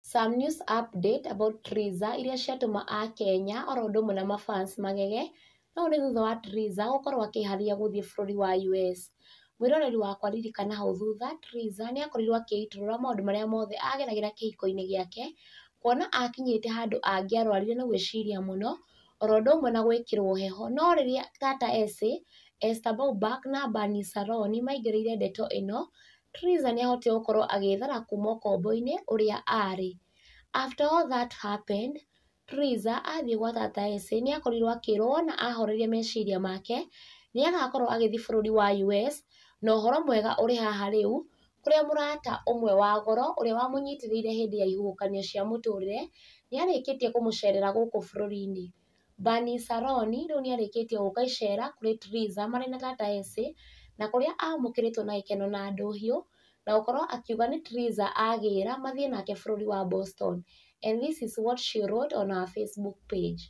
Some news update about Triza iria ciatũma Akenya oro ũndũ ũmwe na mafans magege na ũũ nĩ thutha wa Triza gũkorwo akĩĩharĩria gũthiĩ bũrũri wa US. Mwĩroreri wakwa ririkana hau thutha Triza nĩakorirwo akĩitũrũra maũndũ marĩa mothe ageragĩra kĩhiko-inĩ gĩake kuona akinyĩte handũ angĩarwarire nĩ gwĩciria mũno oro ũndũ ũmwe na gwĩkĩrwo heho no rĩrĩa Tata Essie, Esther Bauback na Barney Saroni maingĩrĩire ndeto ĩno Theresa nĩ ahotire gũkorwo agĩthara kuma ũkombo-inĩ ũrĩa arĩ. After all that happened, Theresa athiĩ gwa tata Essie nĩ akorirwo akĩrwo wona ahoreria meciria make, nĩ agakorwo agĩthiĩ bũrũri wa US, na ũhoro mwega ũrĩ haha rĩu, kũrĩa mũrata ũmwe wa goro ũrĩa wamũnyitĩrĩire hĩndĩ ya ihuhũkanio cia mũtũrĩre, nĩ arĩkĩtie kũmũcerera gũkũ bũrũri-inĩ. Bani Saroni rĩu nĩ arĩkĩtie gũka icera kũrĩ Tiriza marĩ na Gataesi, na kũrĩa aamũkĩrĩtwo na gĩkeno na ndũhiũ, na gũkorwo akiuga nĩ Tiriza aagĩĩra mathiĩ nake bũrũri wa Boston and this is what she wrote on her Facebook page,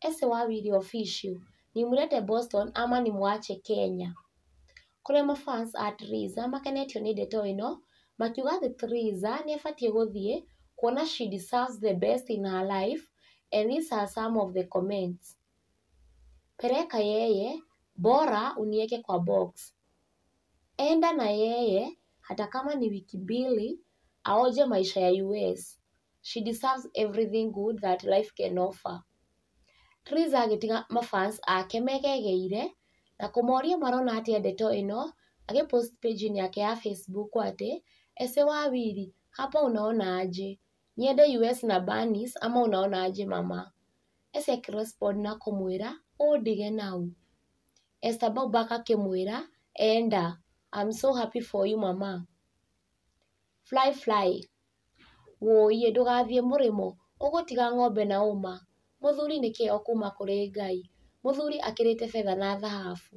Ese wawili official, Nimlete Boston ama nimwache Kenya? kũrĩa ma fans a Triza makenetio nĩ ndeto ĩno makiuga atĩ Triza nĩ abatiĩ gũthiĩ kuona she deserves the best in her life and these are some of the comments, Peleka yeye, bora unieke kwa box, enda na yeye hata kama ni wiki mbili aonje maisha ya US, she deserves everything good that life can offer. Theresa agĩtiga ma fans ake megegeire na kũmoria marona atĩa ndeto ĩno agĩ post page inĩ yake ya Facebook atĩ, Ese wa wili hapa unaona aje? Niende US na Barney's ama unaona aje mama? Ese akĩ respond na kũmwĩra, Ũũ ndige naũ? Esther Boubac akĩmwĩra, Enda, I'm so happy for you mama. Flyfly, Wũiye ndũgathiĩ mũrĩmo, ũgũtiga ng'ombe na ũma, mũthuri nĩ kĩheo kuuma kũrĩ Ngai, mũthuri akĩrĩte betha na thahabu,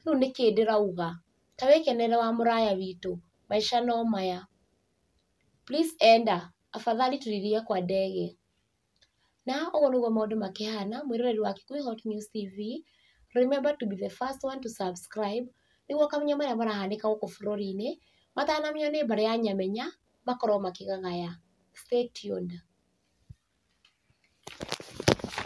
rĩu nĩkĩ ndĩrauga, ta wĩkenere wa mũraya witũ, maica no maya. Please enda, afadhali tulilie kwa ndege. Na ũguo nĩguo maũndũ makĩhana, mwĩroreri wa Kikuyu Hot News TV, remember to be the first one to subscribe nĩguo ũkamenya marĩa marahanĩka gũkũ bũrũri-inĩ, matanamenywo nĩ mbarĩ ya nyamenya, makorwo makĩgagaya. Stay tuned.